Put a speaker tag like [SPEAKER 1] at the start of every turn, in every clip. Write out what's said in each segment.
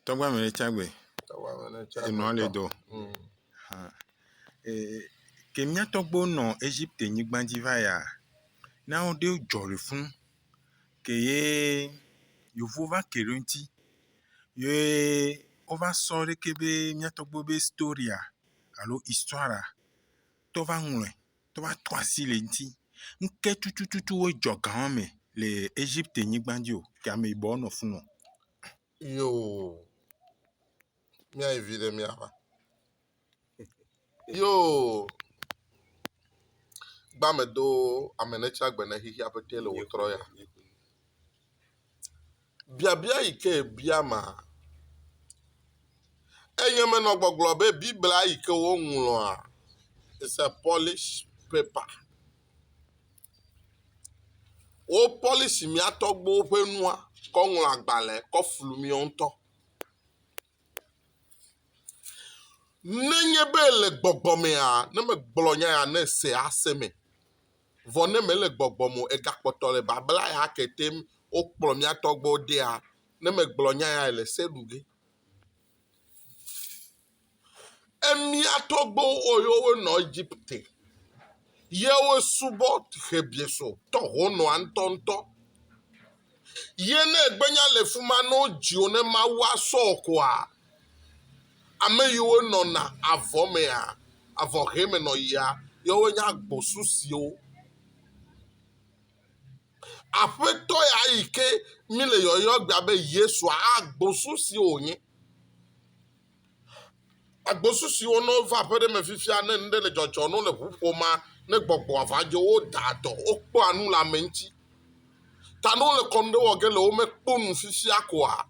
[SPEAKER 1] Tɔgba me tsa gbe. Tɔgba me ne tsa gbe. Enua le do. Mm. Ha. Eh, ke mía tɔgbo nɔ Égypte nyigba dzi va ya. Na wo ɖe jɔ le fun. Ke ye yovo va ke ɖe ŋuti. Ye wova sɔ ɖe ke be mía tɔgbo be storia alo histoire tɔ va ŋlɔe. Tɔ va to asi le ŋuti. Ŋke tutututu wo jɔ ga wa me le Égypte nyigba dzi o. Ke ame yibɔ nɔ fun o. Yoo,
[SPEAKER 2] míayi viɖe míava. Yoo, gbame do ame ne tsi agbe ne xexi aƒete le wòtrɔ ya. Biabia yi ke bia ma, enye menɔ gbɔgblɔ be Biblia yi ke woŋlɔa is a polished paper. Wo pɔlisi mía tɔgbuiwo ƒe nua kɔ ŋlɔ agbalẽ kɔ flu míawo ŋutɔ. Nenye be le gbɔgbɔ mea, ne megblɔ nya ya ne ese ase me. Vɔ ne mele gbɔgbɔ me o egakpɔtɔ le babla ya kete wokplɔ mía tɔgbuiwo dea, ne megblɔ nya ya le se ɖu ge. Emia tɔgbuiwo wɔ ye wonɔ Egipte, ye wosubɔ Xebiesɔ tɔ honɔa ŋutɔŋutɔ. Ye ne egbenya le fi ma ne wodzi wo ne Mawu asɔ wo koa, ame yiwo nɔna avɔ mea, avɔ ʋe me nɔ yia, yewoe nye agbosu siwo. Aƒetɔ ya yi ke míle yɔyɔ egbea be Yesua, agbosu si wònye. Agbosu siwo ne wova aƒe ɖe me fifia ne nu ɖe le dzɔdzɔm ne wole ŋu ƒomea, ne gbɔgbɔa va dzo wodaa dɔ, wokpɔa nu le ame ŋuti. Ta ne wole kɔnu ɖe wɔ ge le womekpɔ nu fifia koa,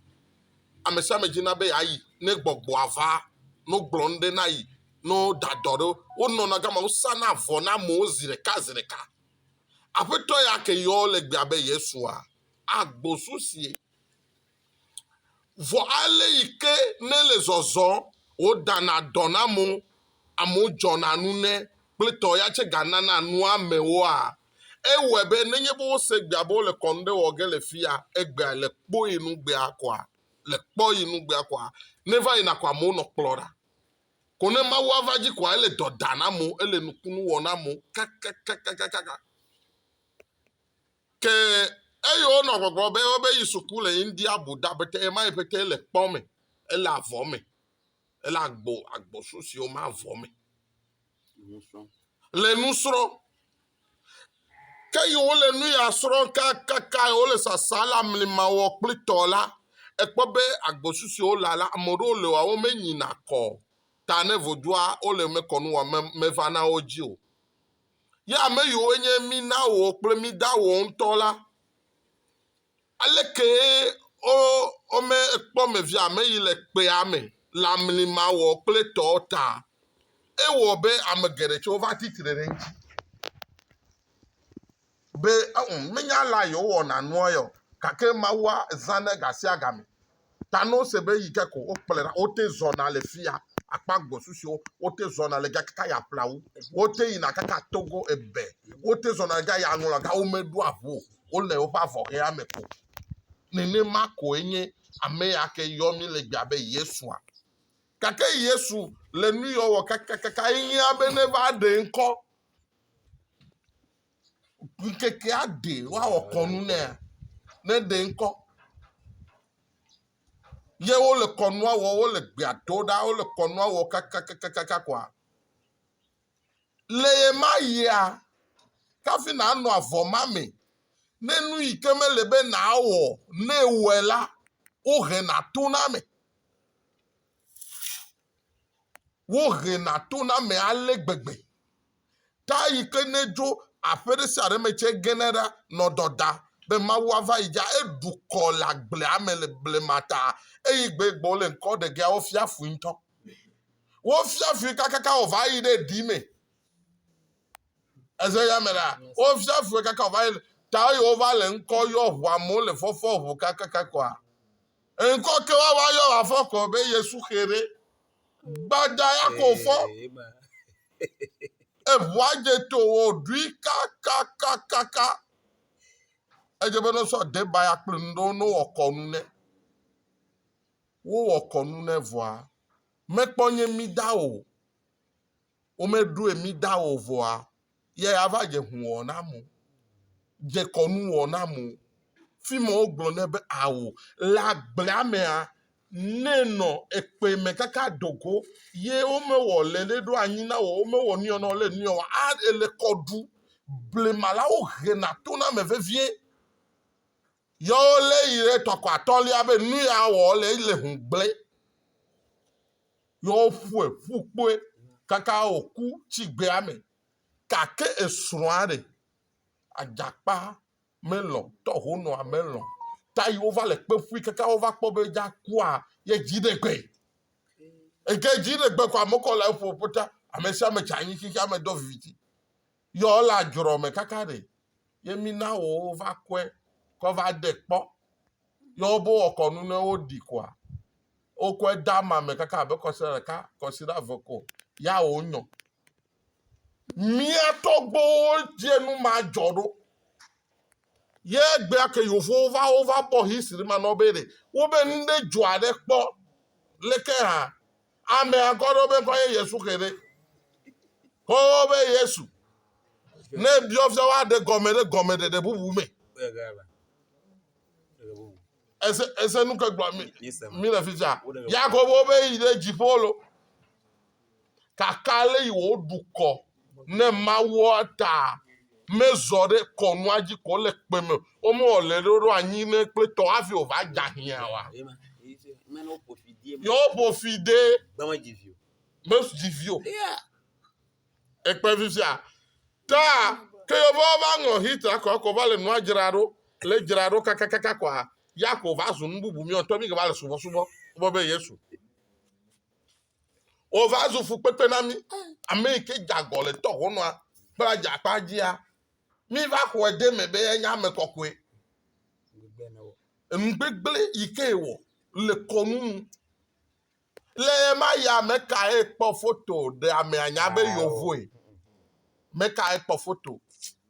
[SPEAKER 2] ame sia ame dzina be yeayi ne gbɔgbɔa va ne wogblɔ nu ɖe na ye ne woda dɔ ɖe wo. Wonɔna gama wosana avɔ na amewo zi ɖeka zi ɖeka. Aƒetɔ ya ke yɔ le gbea be Yesua, agbosu sie. Vɔ ale yi ke ne le zɔzɔ wodana dɔ na mo, amewo dzɔna nu ne kple tɔ ya tse ganana nu amewoa. Ewɔe be nenye be wose egbea be wole kɔnu ɖe wɔ ge le fia, egbea le kpɔ yi nu gbea kɔa, le kpɔ yi nu gbea kɔa, ne va yina kɔa amewo nɔ kplɔ ɖa. Ko ne Mawu ava dzi kɔa ele dɔ da na mo, ele nukunu wɔ na mo kakakakakaka. Ke eye wonɔ gbɔgblɔ be wobe yi suku le India bu da bete ema yi bete le kpɔ me, ele avɔ me, ele agbo agbosu si wome avɔ me. Le nu srɔ̃. Ke yi wole nu ya srɔ̃ kakaka yi wole sasa le amlima wɔ kple tɔ la, ekpɔ be agbosu si wole la, ame aɖewo le wa wome nyina kɔ ta ne vodua wole mekɔnu wa me meva na wo dzi o. Ye ame yiwo nye mí na wɔ kple mí da wɔ ŋutɔ la, alekee wo wome ekpɔ me via ame yi le kpea me le amli ma wɔ kple tɔ ta. Ewɔ be ame geɖe tsɛ wova tsi tre ɖe eŋuti be ɛ ɔ menya alea yewowɔna nua yɔ gake Mawua zãnɛ gasiagame. Ta ne wose be eyi ke ko wokplɔe ɖa, wote zɔna le fia akpa gbɔsusuwo, wote zɔna le ga kaka ya ƒla wu, wote yina kaka Togo ebe, wote zɔna le ga ya ŋlɔ ga womeɖo aʋu o, wole woƒe avɔhea me ko. Nenema koe nye ame ya ke yɔ mí le gbea be Yesua. Gake Yesu le nu yɔ wɔ kakakaka enyia be neva ɖe ŋkɔ. ŋkekea ɖe woawɔ kɔnu nɛ ne ɖe ŋkɔ ye wole kɔnua wɔ wole gbea do ɖa wole kɔnua wɔ kakakakaka koa le ye ma yia kafi nanɔ avɔ ma me ne nu yi ke mele be nawɔ ne wɔe la wohe na to na me. Wohena to na ame ale gbegbe. Ta yi ke ne dzo aƒe ɖe sia ɖe me tse gena ɖa nɔ dɔda be Mawu ava yi dza. Eɖu kɔ le agblea me le blema ta eyi gbe gbɔ wole ŋkɔ ɖe gea wofia fui ŋutɔ. Wofia fui kakaka wòva yi ɖe ɖi me. Eze ya me la, wofia fui kakaka wòva yi ta eye wova le ŋkɔ yɔ ʋua mo le fɔfɔ ʋu kakaka kɔa. Enkɔ ke wa wa yɔ wa fɔ kɔ be Yesu xe ɖe. Gbada ya kɔ fɔ. Eʋua je to wo ɖui kakakakaka. Edze be ne sɔ deba ya kple nu ɖewo ne wɔ kɔnu ne. Wowɔ kɔnu ne vɔa. Mekpɔ nye mi da o. womeɖoe mí da o vɔa, yɛ ava dze hun wɔ na mo, dze kɔnu wɔ na mo. Fi ma wogblɔ nɛ be ao. Le agblea mea, nɛ nɔ ekpe me kaka dogo, yɛ womewɔ le ɖe ɖo anyi na wɔ, womewɔ nuyɔ na wɔ le nuyɔ wɔ a ele kɔ ɖu. Blema la wohena to na ame vevie. Yɔwo lé yi ɖe tɔkɔ atɔ̃lia be nu ya wɔ le yi le hun gblẽ. Yɔwo ƒue ƒu kpoe kaka wòku tsi gbea me. Gake esrɔ̃a ɖe? Adzakpa melɔ̃, tɔhonɔa melɔ̃. Ta yi wova le kpe ƒui kaka wova kpɔ be dza kua ye dzi ɖe gbe. Eke dzi ɖe gbe ko amekɔ le eƒo ƒota. Ame sia ame tsa anyi xixeame do viviti. Yɔ le adzrɔ me kaka ɖe ye mi na wo va kɔe kɔ va de kpɔ. Yɔ wo bo wɔ kɔnu ne wo ɖi kɔa wo kɔe da ma me kaka abe kɔsi ɖa ɖeka kɔsi ɖa ve ko ya wo nyɔ. Mia tɔgbo wo dze nu ma dzɔ ɖo. Ye gbe ake yo fo wo va wo va bɔ hisi ɖe ma nɔ be ɖe wo be nu ɖe dzɔ aɖe kpɔ leke ha. Ame akɔ ɖewo be kɔ ye Yesu xe ɖe. Kɔwo be Yesu. Ne biɔ fia woaɖe gɔme ɖe gɔme ɖeɖe bubu me. Ese ese nu ke gblɔ mi mi le fitsa. Yakobo be yi ɖe dziƒo lo. Kaka le yi wo dukɔ ne mawɔa ta mezɔ ɖe kɔnua dzi kɔ le kpe me o me o le ɖoɖo anyi ne kple tɔ hafi o va dza hiã wa yɔ ƒo fi de me dzi vi o ekpe fi sia ta ke yɔ va va ŋɔ hit akɔ akɔ va le nua dzra ɖo le dzra ɖo kakakaka kɔa ya ko va zu nu bubu mi ɔtɔ mi ke va le subɔsubɔ bɔ be yesu Wova zu fukpekpe na mí. Ame yi ke dze agɔ le tɔʋɔnua ƒe adzakpa dzia, míva xɔe ɖe eme be enye ame kɔkɔe. Enugbegblẽ yi ke wɔ le kɔnu nu. Le ɣe ma ɣia me kae kpɔ foto ɖe amea nya be yewoe? Me kae kpɔ foto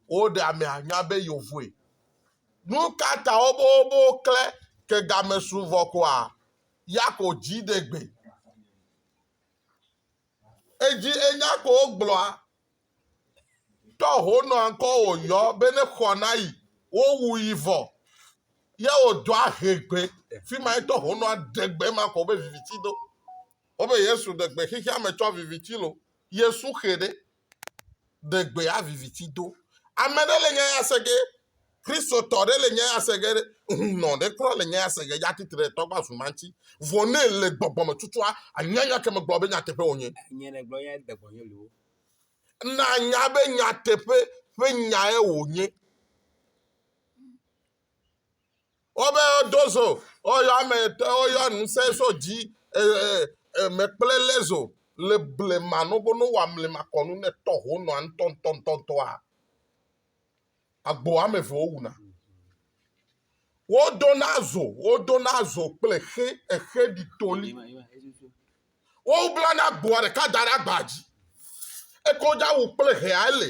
[SPEAKER 2] woɖe amea nya be yewoe? Nu ka ta wobobobo klẽ ke game su vɔ koa? Yakob dziɖegbe. Edzi enya ko wogblɔa, tɔ honɔ ankɔ wòyɔ be ne xɔ na yi, wowu yi vɔ. Ye wòdɔ ahegbe, fi ma etɔ honɔ aɖegbe ma xɔ be viviti do. Wobe Yesu ɖegbe xexea me tsɔ viviti lo, Yesu xe ɖe. ɖe gbe ya viviti do. Ame ɖe le nya ya se ge, Kristotɔ ɖe le nya ya se ge, hunɔ ɖe kura le nya ya se ge, ya tsi tre ɖe tɔgbe avu ma ŋuti. Vɔ ne èle gbɔgbɔ me tutua, ànya nya ke megblɔ be nyateƒe wònye. Nye nègblɔ nya de
[SPEAKER 3] gbɔnye loo. Nànya
[SPEAKER 2] be nyateƒe ƒe nyae wònye. Wobe do zo, woyɔ ame etɔ̃, woyɔ ŋusẽ so dzi, eme kple lé zo le blema nogono wa mlema kɔnu ne tɔ ho nɔa ntɔntɔntɔntɔa. Agbo ame eve wowuna. Wodona zo, wodona zo kple xe, exe ɖi toli. Woblana agboa ɖeka da ɖe agba dzi. Ekodza wu kple hea ele.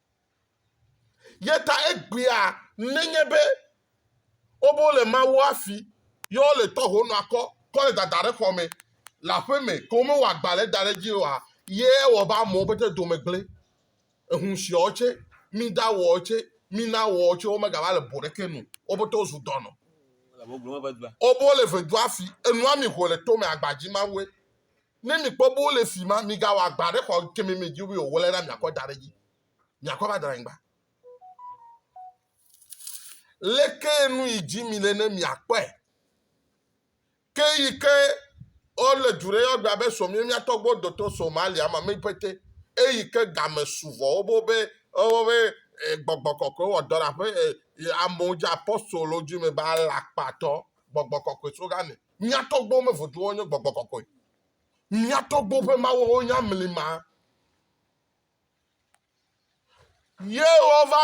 [SPEAKER 2] Ye ta egbea nenye be wobo le Mawu afi ye wole tɔ ho nɔa kɔ kɔ le dada ɖe xɔ me le aƒe me ke wome wɔ agba le da ɖe dzi oa, ye ewɔ be amewo pete dome gblẽ. Ehun siawo tse, mida wɔ tse, mina wɔ tse womega va le bo ɖeke nu. Wo pete wozu dɔnɔ. Wobo le vedua fi, enua mi ho le tome agba dzi Mawue. Ne mikpɔ be wole fi ma, migawɔ agba ɖe xɔ kemi mi dzi o, wɔle na miakɔ da ɖe dzi. Miakɔ va dra anyigba. Leke nu yi dzi mile ne miakpɔe? Ke yi ke ɔle du ɖe yɔgbe abe sɔ mi miatɔ gbɔ dɔtɔ sɔ malia ma mi pete. Eyi ke game suvɔ wo bo be ɔwɔ be gbɔgbɔ kɔkɔe wɔ dɔ ɖe aƒe amewo dzi apɔstolo dzi me ba lakpatɔ gbɔgbɔ kɔkɔe so game. Mía tɔgbuiwo me vodua nye gbɔgbɔ kɔkɔe. Mía tɔgbuiwo ƒe mawuawo nye amlima. Ye wova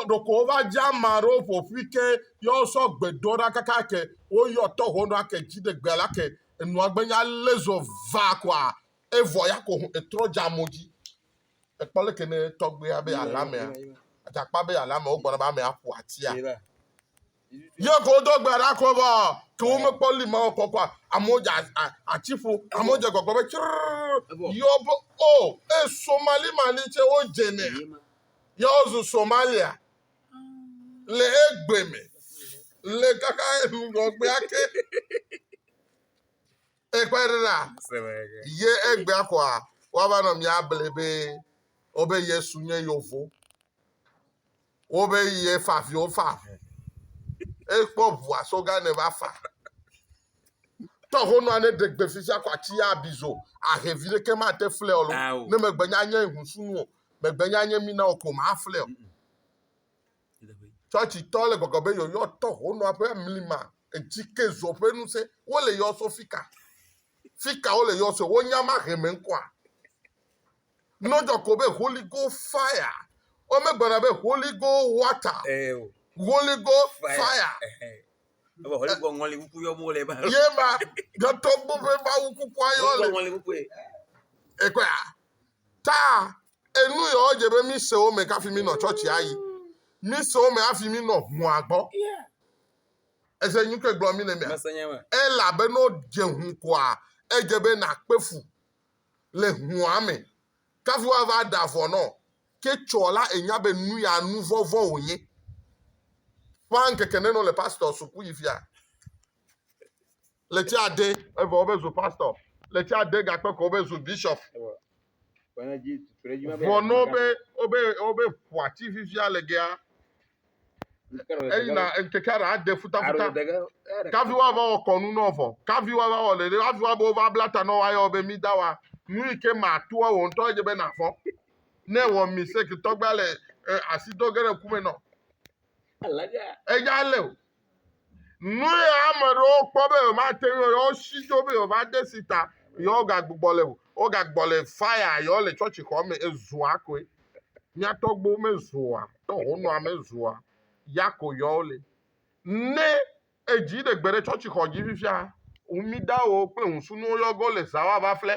[SPEAKER 2] ɖeko wova dze ame aɖewo ƒoƒui ke ye wosɔ gbe do ɖa kaka ke woyɔ tɔ ho ɖa ke dzi ɖegbe la ke enua gbenya lezo va koa evɔ ya ko etrɔ dze amewo dzi. Ekpɔ leke ne tɔgbuia be alame, adzakpa be alame wogbɔna be ame aƒo atia. Ye ko wodo gbe ɖa ko vɔ ke womekpɔ li ma wokpɔ kpɔa amewo dze atiƒo amewo dze gbɔgbɔ be tsrrr yɔ be o e somali mali tse wodze nɛ yɔ wozu somalia le egbe me le kaka ŋgɔgbe ake ekpe ɖe ɖa ye egbea kɔa woava nɔ mía ble be wobe yesu nye yovo Wobe yi efa vi wofa avu. Ekpɔ ʋua so gã ne va fa. Tɔ ho nɔ ne ɖegbe fifia ko atsi ya bizo ahe vi ɖeke ma te flɛ o lo. Ne megbe nya nye hu sunu o. Megbe nya nye mina o ko ma flɛ o. Chɔchi tɔ le gbɔgbɔ be yo yɔ tɔ ho nɔ ƒe mlima edzi ke zo ƒe nu se. Wo le yɔ so fika. Fika wo le yɔ so. Wo nya ma he me ŋkɔa. Nɔdzɔ ko be Holy Ghost fire. Womegblɔna be Holy Ghost water. Ee o. Holy Ghost fire.
[SPEAKER 3] fire. Ebe Holy Ghost
[SPEAKER 2] ŋɔli kuku yɔ mo le ba. Ye ma dɔtɔ gbɔ be ma wu kukua yɔ le. Holy Ghost ŋɔli kuku
[SPEAKER 3] ye. Ekɔe
[SPEAKER 2] a. Ta enu yɔ dze be mi se wo me kafi mi nɔ tsɔtsi ayi. Mi se wo me afi mi nɔ hua gbɔ. Yeah. Ese nyu ke gblɔ mi ne mia. Mese nye me. Ela be no dze hu koa edze be na kpefu. le hũa me. Kafi woava ɖa vɔ nɔ ke tsɔ la enya be nu ya nu vɔ̃ vɔ̃ wònye. Ƒã ŋkeke nenɔ le pastɔ suku yi fia leti ade evɔ wobe zu pastɔ leti ade gakpe ko wobe zu bishop. Vɔ nɔ be wobe wobe ƒua ti fifia le gea eyina ŋkeke aɖe ade futafuta kavi woava wɔ kɔnu na ɔvɔ kavi woava wɔ ɖeɖe kavi woabe wova bla ta na woayɔ be mi da wa nu yi ke matoa wò ŋutɔ edze be navɔ ne wɔ mistake tɔgba le asi do ge ɖe ku me nɔ eya le o Nue ame aɖewo kpɔ be yewomate ŋu yewo si dzo be yewova de si ta yewogagbugbɔ le o. Wogagbugbɔ le faya yewole tsɔtsixɔ me ezua koe. Mía tɔgbuiwo mezua, ne honɔa mezua, ya ko yɔwo le. Ne edzi ɖe gbe ɖe tsɔtsixɔ dzi fifia, ŋumidawo kple ŋusunuwo yɔ ge wole zã woava ƒle.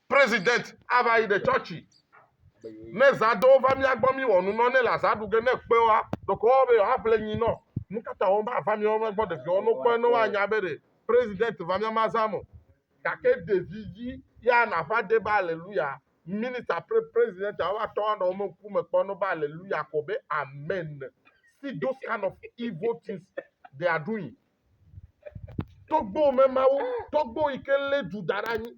[SPEAKER 2] President ava yi ɖe chɔchi ne zã do wova mía gbɔ mí wɔ nu nɔ ne le azã ɖu ge ne kpe wa ɖeko woawo be yewoa ƒle nyi nɔ nukata wo ma va mía wo gbɔ ɖeviwo no kpɔe ne woa nya be ɖe president va mía ma zã mo gake ɖevi dzi ya na va de be aleluya minister pre president a wova tɔ wa nɔ wo me ŋku me kpɔ no be aleluya ko be amen see those kind of evil things they are doing Togbo me mawo, togbo yi ke lé du da ɖe anyi.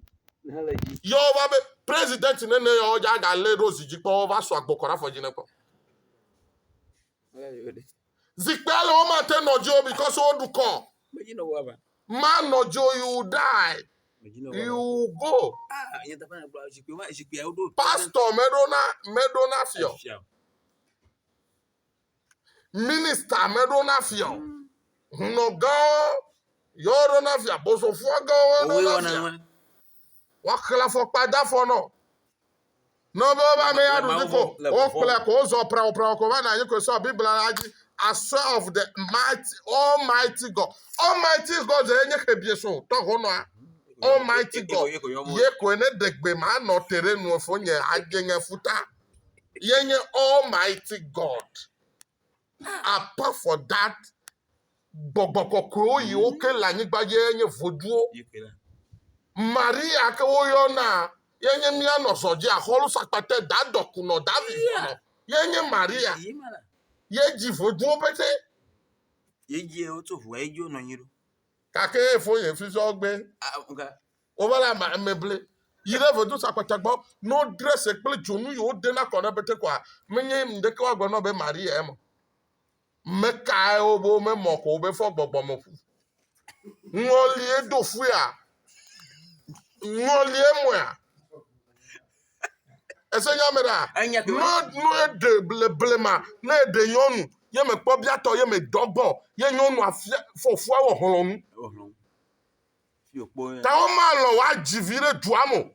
[SPEAKER 2] Yɔ wova be president nene yɔ dza ga lé ɖo zi dzi kpɔ wova sɔ agbo kɔ ɖe afɔ dzi ne kpɔ. Zikpea le wo ma te nɔ dzi o because wo ɖu kɔ. Ma nɔ dzi o you die. You go. Pastor me ɖo na me ɖo na fiɔ. Minista meɖo na fia o. Hunɔgãwo yɔwo ɖo na fia. Bosofoagãwo ɖo Wowoe na wɔna fia. nua. Woaxlẽ afɔkpa de afɔ nɔ. Ne be wobe ame ya Le ɖu Mawu dzi ko, vɔ̃- le vɔvɔ̃ wokplɔe me. ko, wozɔ praopraoa ko va nɔ anyi koe sɔ Biblia la dzi. Asɔ of the mighty, Almighty God. Almighty God ye nye xebieso tɔ honɔa. Almighty Ye ko- God ye ko yɔ mɔ. ye koe ne ɖegbe manɔ te ɖe nuefo nye ageŋe futa. Yenye Almighty God. Apart for that, gbɔgbɔ kɔkɔewo yi woke le anyigba dzi yenye voduwo. Maria ke woyɔna yenye mía nɔzɔ dzi axɔlu sakpate da dɔkunɔ da vivɔnɔ yenye Maria. Yedzi voduwo pete.
[SPEAKER 3] Yedzi wotso ʋua yedzi wonɔ anyi ɖo. Gake efo
[SPEAKER 2] yefisɔ gbé. Wova le ame ame ble yi ɖe vedosa kpata gbɔ ne wodre se kple dzonu yi wode na kɔ ɖe bete kɔa menye ŋdeke woagblɔ nɔ be Maria eme. Mekae wobe wome mɔ ko wobe fɔ gbɔgbɔ me ƒu. Ŋɔlie do fuea. Ŋɔlie mɔa. Ese nya me ɖa. Enya ke No no eɖe ble blema ne eɖe nyɔnu ye mekpɔ biatɔ ye medɔ gbɔ ye nyɔnua fia fɔfua wɔ hlɔnu. Ehlɔn. Ta womalɔ̃ woadzi vi ɖe dua me o.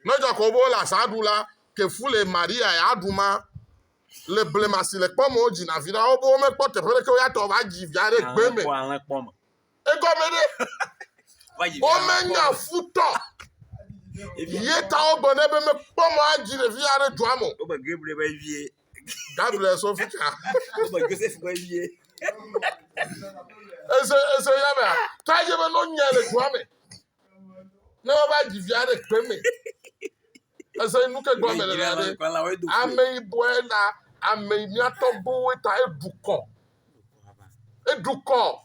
[SPEAKER 2] Ne Jakob be wole azã ɖu la, ke fu le Maria ya aɖu ma. Le blema si le kpɔ me wodzina vi ɖa, wobe womekpɔ teƒe ɖeke woya tɔ va dzi via ɖe gbe me. Egɔme ɖe, womenya futɔ ye ta wogblɔ nɛ be mekpɔ mɔ adzi ɖevia ɖe dua me o. Gabriel sɔ fika. Ebe Joseph be vie. Ese ese ya mea. Ta ye be no nya le dua me. Ne wa ba dzi via ɖe kpe me. Ese nu ke gba me le la de. Ame yi boe la ame yi mia tɔ bo we ta e du kɔ. E du kɔ.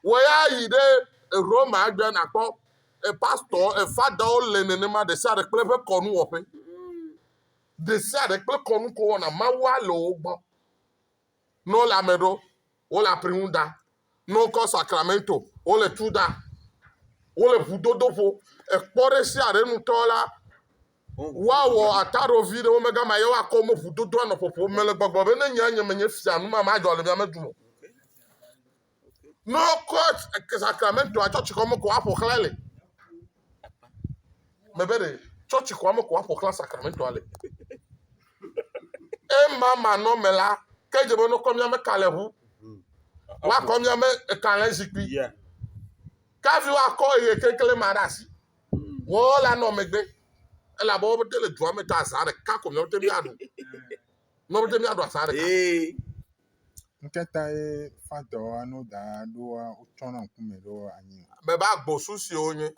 [SPEAKER 2] Wo ya yi ɖe Roma gbe na kpɔ e pastor e father o le nenema de sa de kple be kɔnu wɔƒe. ɖesiaɖe kple kɔnu ko wɔna mawua le wo gbɔ. Ne wole ame ɖo, wole apri ŋu da. Ne wokɔ sakramento, wole tu da. Wole ʋudodo ƒo. Ekpɔ ɖesiaɖe nutɔ la, woawɔ ataɖo vi ɖe wo me gama ye woakɔ wo me ʋudodoa nɔ ƒoƒo. Mele gbɔgblɔ be ne nye nye menye fia, nu ma madzɔ le mia me dome o. No court sacramento a church xɔme ko aƒo xlã le. Mebe ɖe church xɔme ko aƒo xlã sacramento le. Ema manɔme la, ke dze be nokɔ miame kalẽʋu, woakɔ miame kalẽ zikpui. Kavi woakɔ eye keklẽ ma ɖe asi. Wɔwɔ la nɔ megbe. Elabe wo bete le dua me ta azã ɖeka ko miawo te miaɖu. Miawo te miaɖu azã ɖeka.
[SPEAKER 1] Ŋkɛtaɛ fantɔ anu da ɖoa wotsɔ na ŋku mɛ ɖo anyi. Mɛ ba gbɔsu
[SPEAKER 2] siwo nye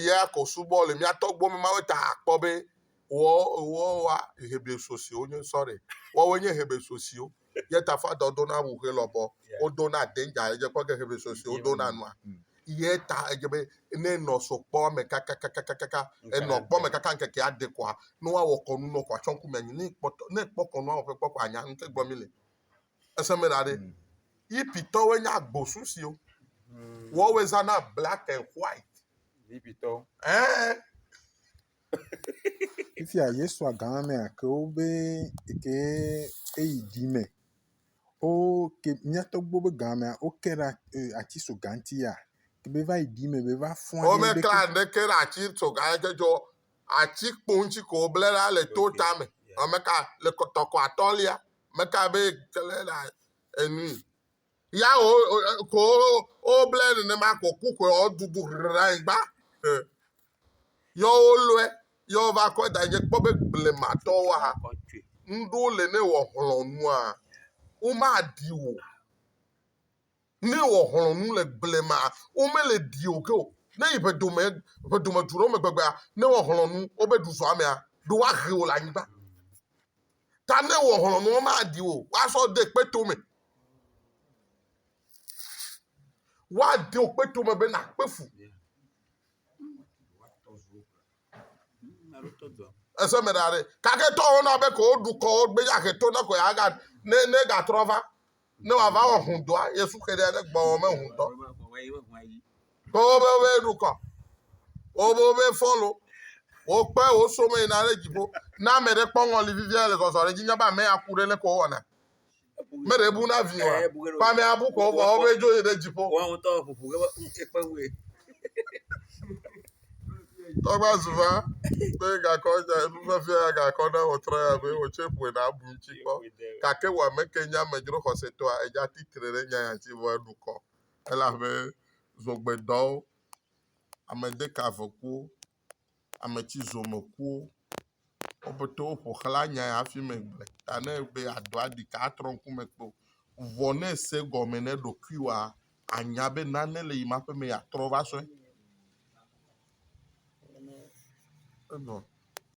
[SPEAKER 2] ya kɔ subɔ le mía tɔgbuiwo me mawe ta akpɔ be wɔ wɔ wa hebreso siwo nye sɔre. Wɔwoe nye hebreso siwo. Ye ta fantɔ do na ŋuxe lɔbɔ wo do na danger edze kpɔ ge hebreso siwo do na nua. Ye ta edze be ne nɔ so kpɔ ame kakakakakaka enɔ kpɔ me kaka ŋkeke aɖe kɔa nua wɔ kɔnu nɔ kɔa tsɔ ŋku mɛ anyi ne kpɔtɔ ne kpɔ kɔnua wɔ ƒe kpɔ kɔa nya ŋke gbɔ mi le. Eseme ɖa ɖe. Mm. Yipitɔwoe nye agbosu siwo. Mm. Woawoe zana black and white. Yipitɔwo.
[SPEAKER 3] Ɛɛ.
[SPEAKER 1] Fifia Yesu agama mea ke wobe ke eyi di me. Wo ke miatɔgbo be gamea wo ke ɖe eh, ati so ganti ya. Ke be va yi di me be va fɔn. Wo me kla ɖe ke
[SPEAKER 2] ɖe ati so ganti dzɔ Ati kpoŋtsi ko woble ɖa le to tame. Ame ka le tɔkɔ atɔ̃lia? Ame ka be kele ɖa enui? Ya wo ko woble nenema ko ku ko wodudu ɖe anyigba. Yɔ wo lɔe, yɔ va kɔ da nye kpɔ be blematɔwo ha. Ŋɖo le ne wɔ hlɔnua. Woma di wo. Ne wò xlɔ̃nu le blema, womele ɖiwò ke o. Ne yi ʋedome, ʋedome tu ɖe wo me gbegbea, ne wò xlɔ̃nu wobe ɖu zɔ amea, ɖe woahe wò le anyigba. Ta ne wò xlɔ̃nu womaɖi wò o, woasɔ de kpeto me. Woade wò kpeto me be nàkpe fu. Ese me ɖa ɖe. Kaketɔwo na be ko woɖu kɔ wo gbe ya he to ne ko ya ga ne ne gatrɔ va. Ne wòava wɔ hundɔa, Yesu xe ɖe aɖe gbɔwɔ me hundɔ. Kpɔwɔ be wobe ɖukɔ, wobe wobe fɔlo, wokpe woso me yina ɖe dziƒo. Ne ame ɖe kpɔ ŋɔli vivia le zɔzɔ ɖe dzi nya be ame ya ku ɖe ne ko wɔna. Me ɖe bu na vi wa. Kpa ame abu ko vɔ wobe dzo yi ɖe dziƒo. Wɔn ŋutɔ ƒoƒo ke
[SPEAKER 3] be ekpe wue.
[SPEAKER 2] Tɔgba zu va be gakɔ dza nu vevia ya gakɔ ne wòtrɔ ya be wòtsɛ ƒoe na abu ŋuti kpɔ. Gake wò ame ke nye amedzro xɔsetɔa edza tsitre ɖe nya ya ŋuti vɔ eɖu kɔ elabe zogbedɔwo, amedekavekuwo, ametsizomekuwo. Wo pete woƒo xla nya ya hafi me gblɔe ta ne egbe yeado aɖi ka atrɔ ŋkume kpe o. Vɔ ne ese gɔme na eɖokuiwoa, anya be nane le yima ƒe me yeatrɔ va sɔe. Evɔ.